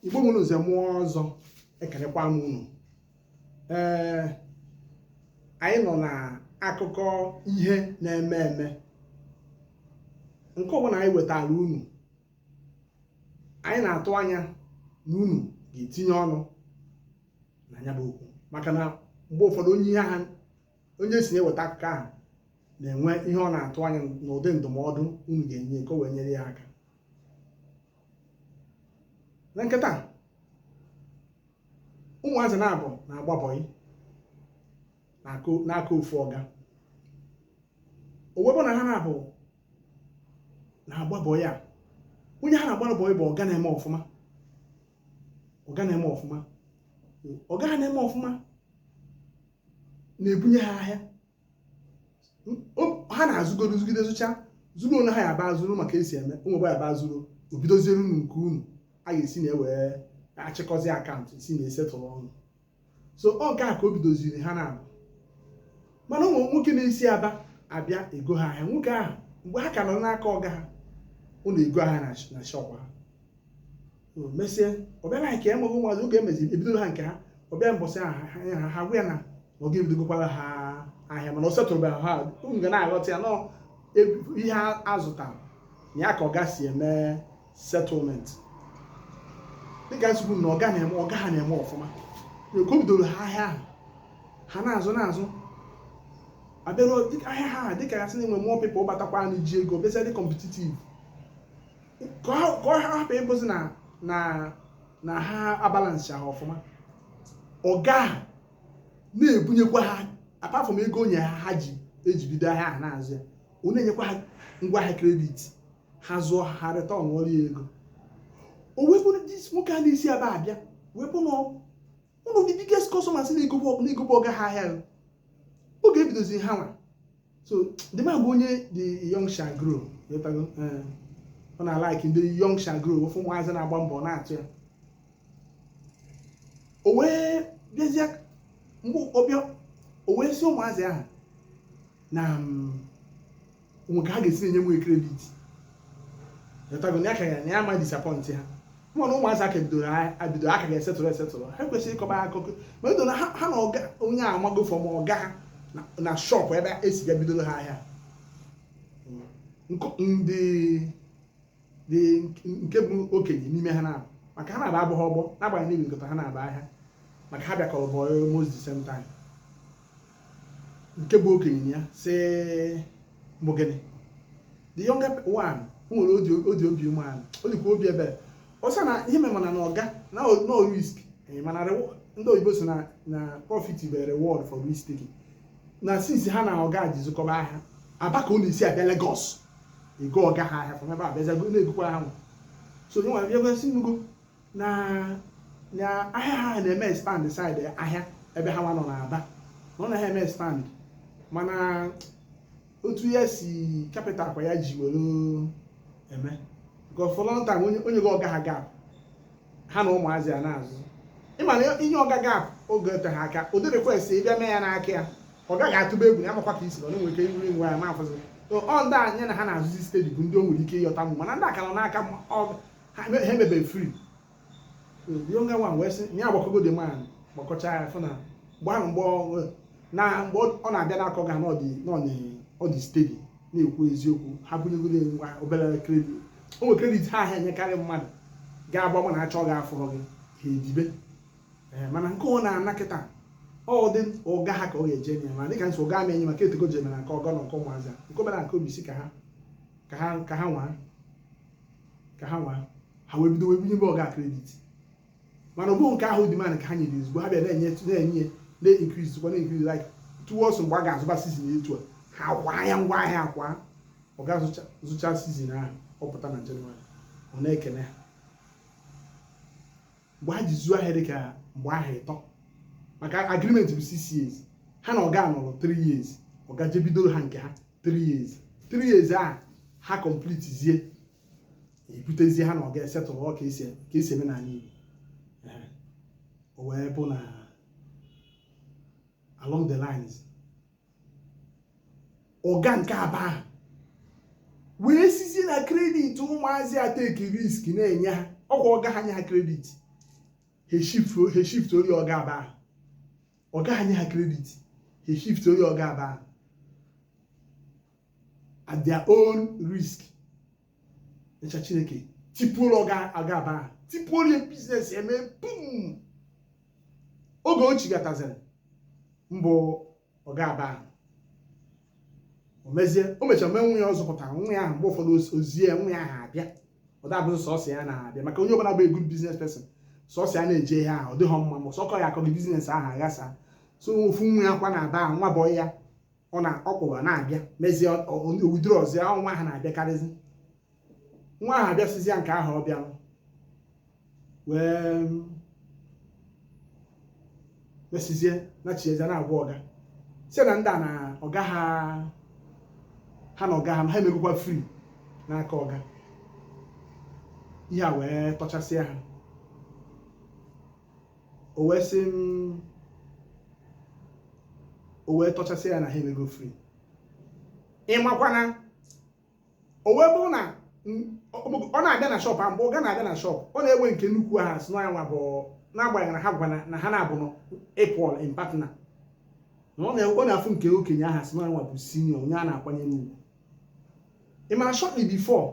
igbo mụrụ nze mụọ ọzọ ekelekwa m unu ee anyị nọ na akụkọ ihe na-eme eme nke ọbụla anyị wetara unu anyị na-atụ anya na unu ga-etinye ọnụ na ya bụ okwu maka na mgbe ụfọdụ onye ihe ha onye si na-eweta akụkọ ahụ na-enwe ihe ọ na-atụ anya n'ụdị ndụmọdụ unu ga-enye ka o wee nyere ya aka na nke taa ụmụazị naabọ na-agba bọyị n'aka ofu ọga o wee bụ na ha naabọ na-agba bọyị a onye ha na-agbara bọyị bụ ọga na-eme ọfụma ọga na-eme ọfụma ọga ha na-eme ọfụma na-ebunye ha ahịa ha na-azụgoro zụgide zụcha zụrụ onwe ha ya aba zụrụ maka esi eme ụmụba ya aba zụrụ ebidoziere unu nke unu a ga-esi na ewee achịkọzi account si na esetụrụ unu so ọ nke a ka o bidoziri ha naabọ mana o nwe nwoke na-esi aba abịa ego ha ahịa nwoke ahụ mgbe ha ka nọ n'aka ọga ha ọ na-ego ahịa na shop ha mesịa ọ bịara anyị ka enweghị ụmụazị oge emezi ebidoro ha nke ha ọ bịa mbọsị ha ha ha gwa ya na na ọga ebidogokwara ha ahịa mana ọ setụrụbe ha unu ga na-aghọta ya na ọ ihe a zụtara na ya ka ọga si eme settlement dịka m si kwuo na ọga na-eme ọga ha na-eme ọfụma na ka o bidoro ha ahịa ahụ ha na-azụ na-azụ abịaruo ahịa ha dịka ya sị na enwe more people batakwanụ ji ego bịazie dị competitive ka ọ hapụ ịbụzi na na na ha abalansị ahụ ọfụma ọga ha na-ebunyekwa ha apart from ego o nye ha ha ji ejibido ahịa ahụ na-azụ ya ọ na-enyekwa ha ngwa ahịa credit ha zụọ ha returnụọrọ ya ego o wee bụrụ nwoke a na-esi aba abịa wee bụ n'ọkụ ụlọ ndị biggest customers na-egobe ọga na-egobe ọga ha ahịa gị oge ebidozi ha nwa so the man bụ onye the young shall grow ịghọtago? Eh, ọ na-alike ndị young shall grow ọ fụ ụmụazị na-agba mbọ na-atọ ya o wee bịazie mgbe ọ bịa o wee si ụmụazị ahụ na mm, o nwe ka ha ga-esi na-enye m credit ịghọtago na ya ka ya na ya ama disappoint ha mana ụmụazị a ka bidoro ebido a ka ga-esetụrụ esetụrụ ha kwesịrị ịkọba akụkọ ma edo na ha na ọga onye a amago from ọga ha na shop ebe esi ga bidoro ha ahịa ndị nke bụ okenye n'ime ha na maka ha naabọ abụghị ọgbọ n'agbanyeghị na nkọta ha na-aba ahịa maka ha bịakọrọ bọyị almost the same time nke bụ okenye ya si mbụ gịnị the younger one o nwere odi obi umeala o dịkwa obi ebere ọ sị na ihe mere mana na ọga na no risk eh, mana ndị oyibo sị na na profit bụ reward for risk taking na since ha na ọga ji zụkọba ahịa Aba ka ọ na-esi abịa Lagos ego ọga ha ahịa from ebe a bịaza na-egokwara ha nwa so onye nwere ebe si nugo na na ahịa ha na-eme expand side ahịa ebe ha nwa nọ n'Aba na ọ naghị eme expand mana otu ya si capital kwa ya ji were eme because for long time o nye o nyego ọga ha gap ha na ụmụazị ya na-azụ ị ma na ị nye ọga gap oge eteghị aka ụdị request ị bịa mee ya n'aka ya ọ ga-atụba egwu na amakwa ka isi ọ na-enwe ike iruri nwa ya mafụzi ọ ndị ya na ha na-azụzi steady bụ ndị o nwere ike ịyọta mụ mana ndị aka nọ n'aka ha emebe free younger one wee sị ya agbakọgo the man gbakọcha ya fụ na mgbe ahụ mgbe na mgbe ọ na-abịa n'aka ọga na ọ dị steady na-ekwu eziokwu ha bunyegoro ngwa obere credit o nwere credit ha ahịa enyekarị mmadụ ga-agba mụ na achọ gị afụrọ gị ha edibe eh, mana nke ọ na-ana kịta ọ dị ọga ha ka ọ ga-eje enye ma dịka m sị ọga ama enye maka etego jemere nke ọga na nke ụmụazị nke obere nke obi sị ka ha ka ha ka ha nwaa ka ha nwaa ha wee bido wee bunyebe ọga credit mana ọ bụghị nke ahụ demand ka ha nyere ozugbo ha bịa na-enye na-enye na-increase kwa na-increase like towards mgbe a ga-azụba season etu a ha kwa ya ngwa ahịa akwa ọga zụcha season ahụ ọ pụta na jenụwarị ọ na-ekene ha mgbe ha ji zuo ahịa dịka mgbe ahọ ịtọ maka agreement bụ six years ha na ọga nọrọ three years ọga jebidoro ha nke ha three years three years ahụ complete zie ebutezie ha na ọga esettle ka e si eme n'ala Igbo o wee bụ na along the lines ọga nke Aba ahụ wee sizie na credit ụmụazị etake risk na-enye ha ọkwa ọga ha nye ha credit ha shiftuoro ọga Aba ahụ ọga ha nye ha credit ha shiftuoro ọga Aba ahụ at their own risk echa Chineke tipuoro ọga Aba ahụ tipuoro ya business eme boom oge o chigataziri m bụ ọga Aba ahụ o mezie o mechara mee nwa ya ọ zụpụtara nwa ya ahụ mgbe ụfọdụ o- ozie ya, nwa ya ahụ abịa ọ dabụzị sọsọ ya na-abịa maka onye ọbụla bụ good business person sọsọ ya na-eje ihe ahụ ọ dịghọ mma ma sọkọ ya akọghị business ahụ aghasa so ofu nwa ya kwa n'Aba ahụ nwa bọyị ya ọ na ọkpụwa na-abịa mezie udiri ọzọ ahụ nwa ahụ na-abịakarịzi nwa ahụ abịasịzịa nke ahụ ọ bịara wee mesizie na chieze na-agwa ọga sị na ndị a na ọga ha ha na ọga ha ha emegokwa free n'aka ọga ihe a wee tọchasịa ha o wee sị m o wee tọchasịa ya na ha emego free ị makwana o wee bụrụ na ọ na-abịa na shop mgbe ọga na-abịa na shop ọ na-ewe nke nnukwu ahụ sị na ọ ya nwa bụ n'agbanyeghị na ha gwa na ha naabọ na equal in partner na ọ na-afụ nke okenye ahụ sị na ọ ya nwa bụ senior onye a na-akwanyere ugwu ị mara shortly before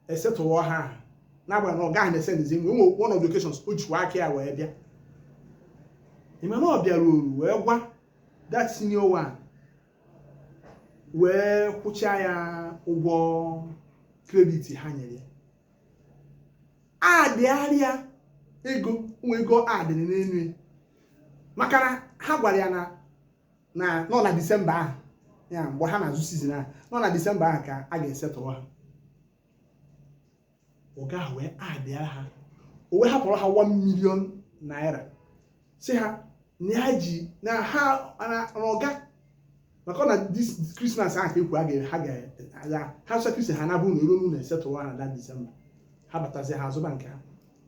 e settle ha n'agbanyeghị na ọga ahụ na-esendizi nwa nwa one of the occasions o jikwa aka ya wee bịa ịma na ọ bịara o ruo wee gwa that senior one wee kwụchaa ya ụgwọ credit ha nyere ya adịgharịa ego nwa ego adịrị n'elu ya maka na ha gwara ya na na ọ na disemba ahụ ya mgbe ha na-azụ season ahụ nọ na disemba ahụ ka a ga-esettle ha ọga ahụ wee adịa ha o wee hapụrụ ha 1 million naira sị ha na ha ji na ha na ọga maka ọ na this christmas ahụ ka ekwu a ga- ha ga-agha ha sọ kristi ha naabọ na eru n'ụlọ e settle ha na that disemba ha batazi ha azụba nke ha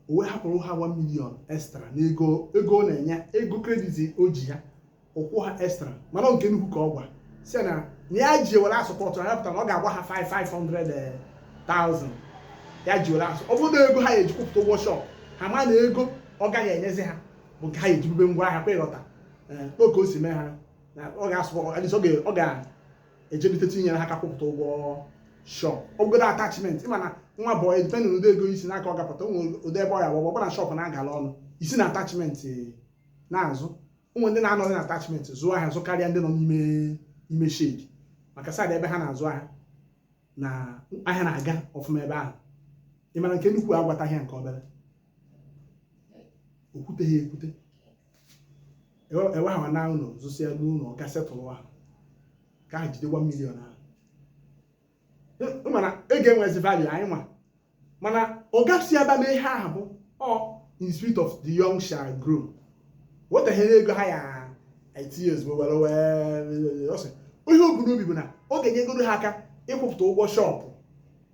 o wee hapụrụ ha 1 million extra n'ego ego ọ na-enye ego credit o ji ha ọ kwụọ ha extra mana nke nnukwu ka ọ gwa sị na na ya ji were asupport ha pụtara na ọ ga-agwa ha 500,000 ya ji were asọ ọ bụrụ na ego ha ya eji kwụpụta ụgwọ shop ha ma na ego ọga ha enyezi ha bụ nke ha ya ejibube ngwa ahịa kwa ịghọta oke o si mee ha ọ ga-asụ ọ ga ejebite tinyere ha aka kwụpụta ụgwọ shop ọ bụgodu attachment ịma na nwa bọị depending ụdị ego i si n'aka ọga pụta ụmụ ụdị ebe ọ ya gbagba ọ bụ na shop na-agala ọnụ i si na attachment na-azụ o nwe ndị na-anọ na attachment zụọ ahịa zụ karịa ndị nọ n'ime ime shed maka side ebe ha na-azụ ahịa na ahịa na-aga ọfụma ebe ahụ ị mara nke nnukwu agwataghị ya nke obere o kwute ha ekwute ewe ha na ụlọ zụsịa ruo ụlọ ọga settle ha ka ha jide 1 million ahụ mana ego enwezi value anyị nwa mana oga si aba mee ihe ahụ bụ ọ in spirit of the young shall grow wetehere ego ha ya etinye ozugbo were wee ọ sị ihe o bu n'obi bụ na ọ ga-enyegodu ha aka ịkwụpụta ụgwọ shop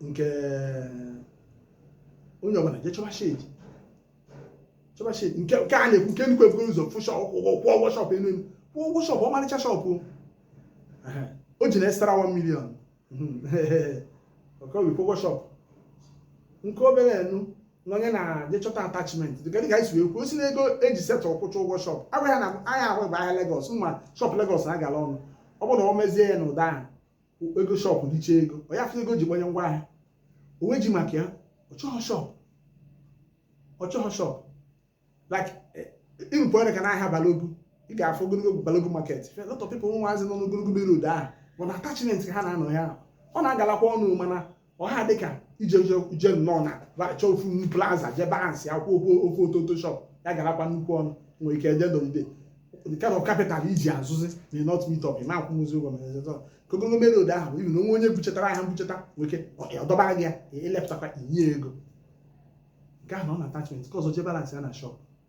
nke onye ọbụla je chọba shade chọba shade nke nke a na-ekwu nke nnukwu ebugoro ụzọ fụ shọp ụgwọ kwụọ ụgwọ shọp enu enu kwụọ ụgwọ shọp ọmarịcha shọp o Ehe. o ji na extra 1 million ọkọwi kwụọ ụgwọ shọp nke obere enu na onye na-eje chọta attachment dịka dịka e si wee kwuo si na ego eji settle kwụcha ụgwọ shọp agwa ya na ahịa ahụ bụ ahịa Lagos ma shọp Lagos na-agala ọnụ ọ bụrụ na ọ mezie ya n'ụdị ahụ ego shọpụ richa ego ọ ya ego ji gbanye ngwa ahịa o wee ji maka ya ọ chọghị shọpụ ọ chọghị shọpụ like ịrụpụ eh, ọrịa ka n'ahịa Balogun ị ga-afụ ogologo Balogun market a lot of people ụmụazị nọ n'ogologo road ahụ bụ na attachment ka ha na-anọ ya ọ na-agalakwa ọnụ mana ọha dịka ije je nnọọ na chọọ ofu plaza je balance akwụ ụgwọ ofu ototo shọp ya galakwa nnukwu ọnụ nwere ike eje dogide the kind of capital iji azụzi may not meet up na akwụnwuzi ụgwọ na ezezọ ka ogologo main road ahụ ibi na o nwee onye buchetara ahịa mbucheta nweke ọdọba gị ya elepụtakwa inye ego nke ahụ nọ na attachment nke ọzọ je balance ya na shop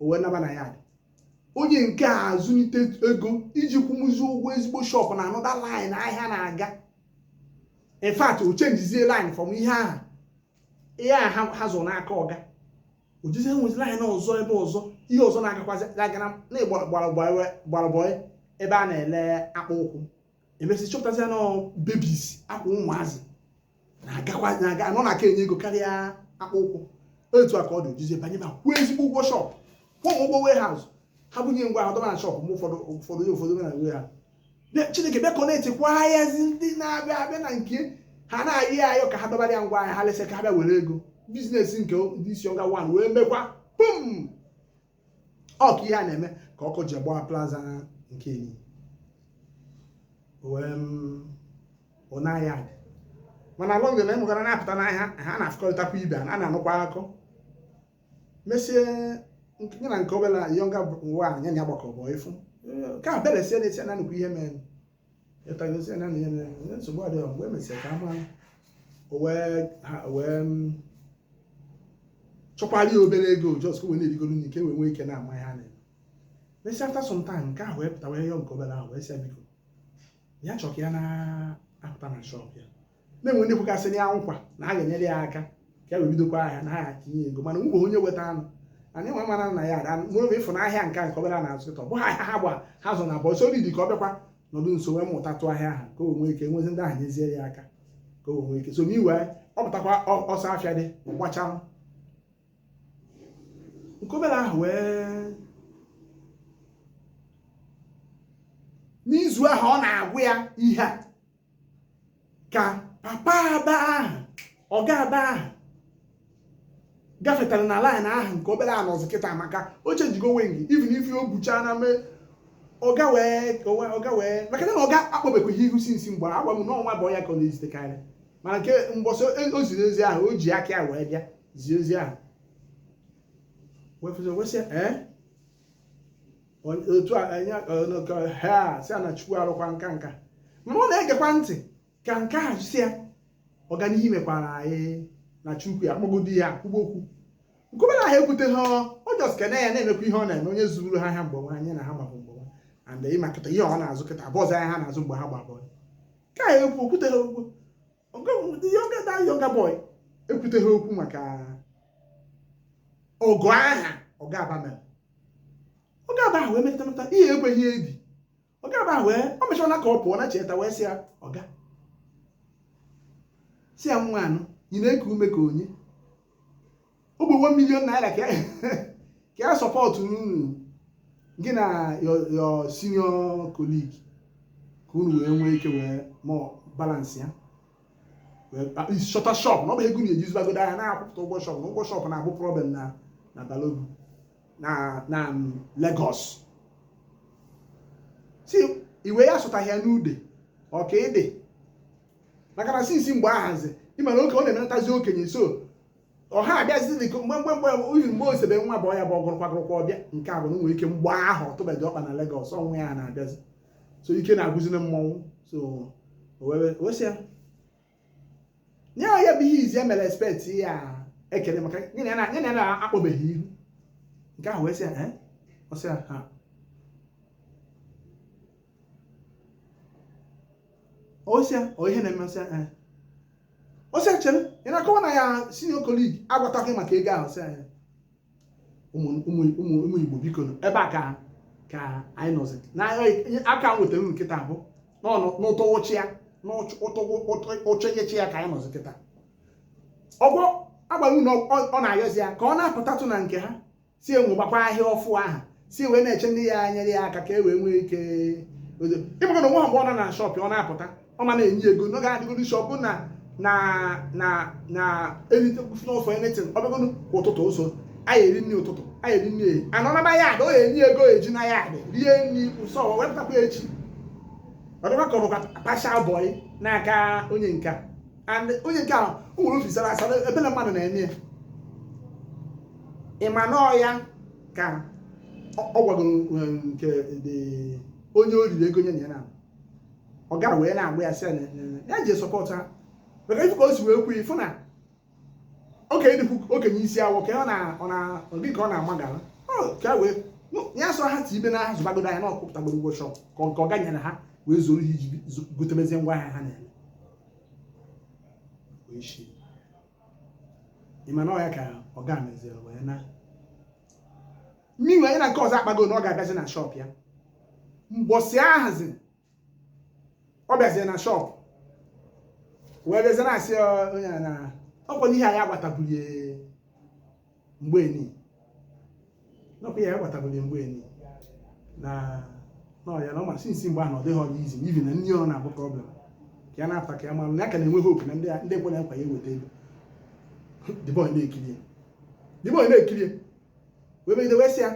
o wee naba na ya dị onye nke a azụlite ego iji kwụnwuzi ụgwọ ezigbo shọpụ na another line ahịa na-aga in fact o changezie line from ihe ahụ ihe a ha zụrụ n'aka ọga o jezie nwezi line ọzọ ebe ọzọ ihe ọzọ na-agakwazi agara na-egbarabọị ebe a na-ele akpa ụkwụ e mesịa chọpụtazi na babies akwa ụmụazị na-agakwa na-aga ọ na-aka enye ego karịa akpa ụkwụ otu a ka ọ dị o jezie banye ma kwụọ ezigbo ụgwọ shọpụ kwụọ ụgwọ warehouse ha bunye ngwa ha dọba na shọpụ mgbe ụfọdụ ụfọdụ ya ụfọdụ na warehouse Chineke bịa connect kwa ahịazi ndị na-abịa abịa na nke ha na-ayọ ya ayọ ka ha dọbara ya ngwa ahịa ha lesịa ka ha bịa were ego business nke ndị isi ọga wan wee mekwa boom ọ ka ihe a na-eme ka ọkụ ji gbaa plaza nke senior one ya dị mana along the line m gara na-apụta n'ahịa ha na-afụkọrịtakwa ibe a na-anụkwa akụ mesie ya na nke obere younger one ya gbakọ bụ ifu ka a beresie na-esi na nnukwu ihe mere ịtagosi na ihe mere ihe nsogbu adịghị mgbe e mesịrị ka a mara o wee ha o wee mm, chọkwara ya obere ego just ka o wee na-erigoro nri ka e wee nwee ike na-ama ihe a na-eme mesịa after some time nke ahụ wee pụta wee yọọ nke obere ahụ wee sị ya biko ya chọọ ka ya na-apụta na shọp ya na-enwe ndị kwekasịrị ya nkwa na a ga-enyere ya aka ka ya wee bidokwa ahịa na ha tinye ego mana nwụrụ onye weta anụ anyị nwa mara na ya ada mụrụ ị fụ na ahịa nke nke obere a na-azụ kịta ọ bụghị ahịa ha gba ha zụ na abụọ so dị ka ọ bịakwa nọdụ nso wee mụtatụ ahịa ahụ ka o nwee ike nwezi ndị ahụ nyezie ya aka ka o nwee ike so n'iwe ọ pụtakwa ọsọ afịa dị gbachaa nke obere ahụ wee n'izu ahụ ọ na-agwa ya ihe a ka papa aba ahụ ọga aba ahụ gafetara na laịn ahụ nke obere anọzi kịta maka o chenjigo wing even if o bucha na mee ọga wee ọga wee maka na ọga akpọbekwaghị ihu sinsi mgbe agwa m n'ọ nwa bọyị ya ka ọ na-ezitekarị mana nke mbọsị o ziri ozi ahụ o ji aka ya wee bịa zie ozi ahụ wee fụzi wesị ee otu a enye ọnụkọ ha si na chukwu arụkwa nka nka ma ọ na-egekwa ntị ka nke a si ya ọganihu mekwara anyị na chukwu ya kpọgodi ya kwuba okwu nkwube na ha ekwuteghị ọ jọs kene ya na-emekwa ihe ọ na-eme onye zụrụ ha ahịa mgbe nwa anyị na ha mabụ mgbe nwa and ị ma kịta ihe ọ na-azụ kịta abụọzi ahịa ha na-azụ mgbe ha gba bọyị ka ya ekwu o kwutere okwu the younger that younger boy ekwuteghị okwu maka ọgọ ahụ ọga aba mere ọga aba ahụ wee metụta metụta ihe ekweghị edi ọga aba ahụ wee ọ mechara ka ọ pụọ na cheta wee sị ya ọga si ya nwa anụ ị na-eku ume ka o nye ogbe 1 million naira ka ka ya sọpọtụ unu gị na your senior colleague ka unu wee nwee ike wee mọ balansị ya chọta shọp na ọ bụ ego na-ejizibagodo ahịa na-akwụpụta ụgwọ shọp na ụgwọ shọp na-abụ problem na na Balogun na na Lagos si iwe ya sụtaghị ya n'ụdị ọ ka dị maka na sinsi mgbe ahụzi ị mara oke ọ na-emenatazi okenye so ọha abịazi dị mgbe mgbe mgbe uyi mgbe osebe nwa bọyị ya bụ ọgụrụkwagụrụkwa ọbịa nke a bụ na nwere ike mgbe ahụ ọ tụbeghị ọkpa na Lagos ọnwa ya na-abịazi so ike na-agwụzi na mmọnwụ so wee sị ya nye ya bụ ihe izi e mere expect ya ekele maka nye na ya na-akpọbeghị ihu nke ahụ wee sị ya ọ sị ya ha ọ sị ya ọ ihe na-eme ọ sị ya eh. ọ sị ya chere ị na-akọwa na your senior colleague agwataghị maka ego ahụ ọ sị ya eh. ụmụ igbo biko ebe a ka ka anyị nọzi na aka nwetara uru kịta abụ n'ụtọ ụchị ya n'ụchọnyechi ya ka anyị nọzi kịta ọga agwa gị na ọ na-ayọzi ya ka ọ na-apụtatụ na nke ha si enwe gbakwa ahịa ọfụ ahụ si wee na-eche ndị ya nyere ya aka ka e wee nwee ike ịbụga na nwa mgbe ọ nọ na shọpụ ọ na-apụta ọ ma na-enye ego n'oge adịgoro shọpụ na na na na erite n'ofe anything ọ bịagoro kwa ụtụtụ ụzọ anyị eri nri ụtụtụ anyị eri nri ehihie anọ naba ya ada ọ ga-enye ego e ji na ya adị rie nri so wee pụtakwa echi ọ dịkwa ka ọ bụkwa pashal bọyị n'aka onye nke a and onye nke ahụ o nwere obi sara asara ebe na mmadụ na-eme ya ị ma na ọ ya ka ọ gwagoro um, nke onye o riri ego nye na ya na ọ gara wee na-agba ya sị ya ji sọpọtụ ha maka ịfụ ka o si wee kwu ịfụ na okenye dịkwu okenye isi awọ ka ọ na ọ na gị ka ọ na-amagara ka wee ya sọ ha ti ibe na ha zụbagodo ahịa na ọ kwụpụtagoro ụgwọ shọp ka ọ ga-enyere ha wee zoro ihe iji gotemezi ngwa ahịa ha na-eme isi ị ma na ọ ya ka ọ ga-emezi wee na mmiri onye na nke ọzọ akpago na ọ ga-abịazi na shọp ya mbọsị ahazi ọ bịazie na shọp wee bịazie na-asị onye a na ọ kwa n'ihe anyị agbatabụlie mgbe enyi na ọ kwa ya agbatabụghị mgbe enyi na ọ ya na ọ masị nsi mgbe ahụ ọ dịghị ọdị izi ibi na nri ọ na-abụ problem ka ya na-ata ka ya mara na ya ka na-enwe hope na ndị ekwe na nkwa ya eweta ego the boy na-ekiri the boy na-ekiri wee megide wee sị ya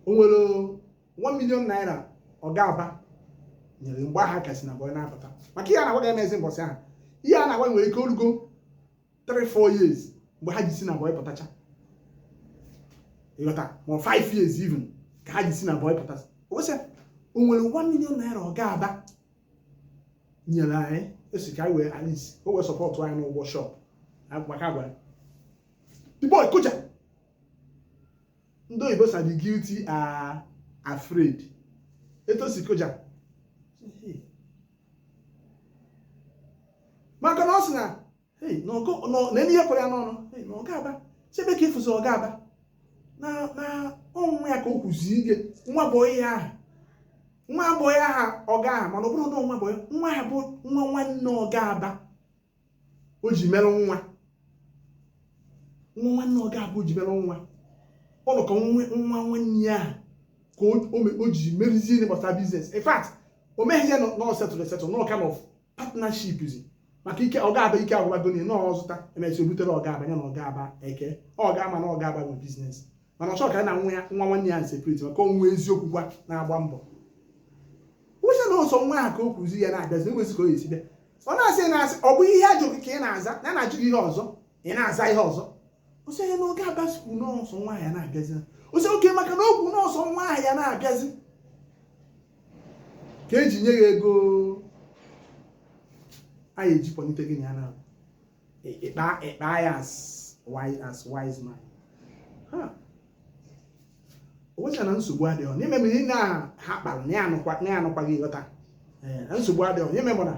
o nwere 1 million naira ọga Aba nyere mgbe ha ka si na boy na-apụta maka ihe a na-agwa ga-emezi mbọsị ahụ ihe a na-agwa nwere ike orugo 3 4 years mgbe ha ji si na bọị pụtacha ị ghọta ma 5 years even ka ha ji si na bọị pụtacha ọ sị o nwere 1 million naira ọga Aba nyere anyị esi ka anyị wee at least o wee sọpọtụ anyị n'ụgwọ shọp maka agwa the boy kụja ndị oyibo sị the guilty are afraid etu o si kụja maka na ọ sị na na ihe kwere ya n'ọnụ na ọga Aba chebe ka ịfụzi ọga Aba na ọ nwa ya ka o kwuzi ike nwa bọị aha nwa bọị aha ọga aha mana ọ bụrụ na nwa bụ nwa ha bụ nwa nwanne ọga Aba o ji merụ nwa nwa nwanne ọga Aba o ji merụ nwa ọ nọ ka nwa nwanne ya ahụ ka o ji merizie ihe gbasara biznes in fact o meghị ya na ọ setụrụ esetụ na ọ kind of partnership zi maka ike ọga Aba ike agwụbago na ọ zụta e mesịa o butere ọga Aba ya na ọga Aba eke ọ ga-ama na ọga Aba nwe biznes mana ọ chọ ka na nwa ya nwa nwanne ya separate maka onwe eziokwu gwa na-agba mbọ wụcha na ọ sọ nwa ahụ ka o kwuzi ya na-abịazi enwezi ka o esi bịa ọ na-asị na-asị ọ bụ ihe a jụ ka ị na-aza na na-ajụ gị ihe ọzọ ị na-aza ihe ọzọ ọ sị ya na ọga Aba sịkwu na ọ sọ nwa ya na-abịazi ọ sị okay maka na o kwu na ọ sọ nwa ya na-abịazi ka e ji nye ya ego a ya-eji kpọlite gị na ya na ị kpa ya as wise man onwecha na nsogbu adịghị n'ime m ihe na ha kpara na ya anụkwaghị ị ghọta na nsogbu adịghị onye memụ na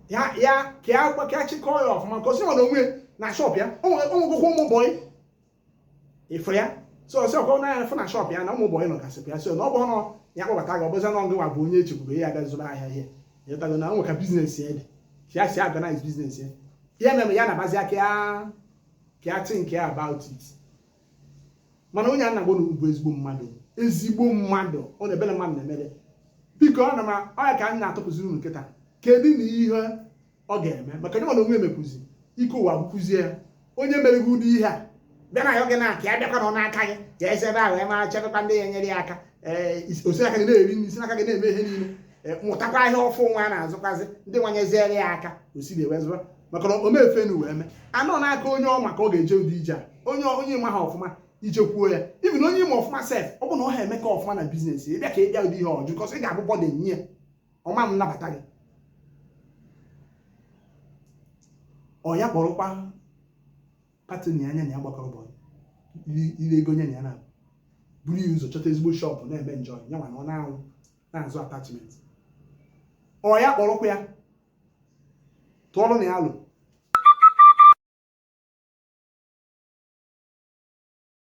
ya ya ka ya gwa ka ya chịkọọ ya ọfụma ka o si na onwe na shọp ya onwegokwa ụmụ bọyị ịfụ ya so ọ sị ọkọ na ya fụ na shọp ya na ụmụ bọyị nọgasịpụ ya so na ọ bụrụ na ya kpọbata gị ọ bụzi na ngịwa bụ onye echekwube ya abịa zụrụ ahịa ihe ị ghọtago na o nwe ka biznes ya dị ka ya si organize biznes ya ya mere ya na-abazi aka ya ka ya think about it mana onye a na-agwa unu bụ ezigbo mmadụ ezigbo mmadụ ọ na ebere mmadụ na-emere biko ọ na m ọ ya ka m na-atụpụziri unu kịta kedu na ihe ọ ga-eme maka onye mana onwe emekwuzi ike ụwa gwụkwuzie ya onye mere gị ụdị ihe a bịa na ya oge na-aka ya bịakwa nọ n'aka gị jee ebe ahụ ema chebekwa ndị ya enyere ya aka ee o si aka gị na-eri nri si n'aka gị na-eme ihe niile mụtakwa ihe ọfụ nwa na-azụkwazị ndị nwa nyeziere ya aka o sị na ewezụga maka na omefe na uwe mee na ọ n'aka onye ọ ma ka ọ ga-eje ụdị ije a onye onye ị maha ọfụma i jekwuo ya even onye ị ma ọfụma sef ọ bụ na ọ ha eme ka ọfụma na biznes ị bịa ka ị bịa ụdị ihe ọ jụ kọs ị ga-abụ burden nye ya ọ ma nabata gị ọ ya kpọrọkwa pati na anya na ya gbakọrọ bọl ire ego nye na ya na buru ya ụzọ chọta ezigbo shọpụ na-eme njọ ya nwa na ọ na-anwụ na-azụ attachment ọ ya kpọrọkwa ya tụọrọ ya alo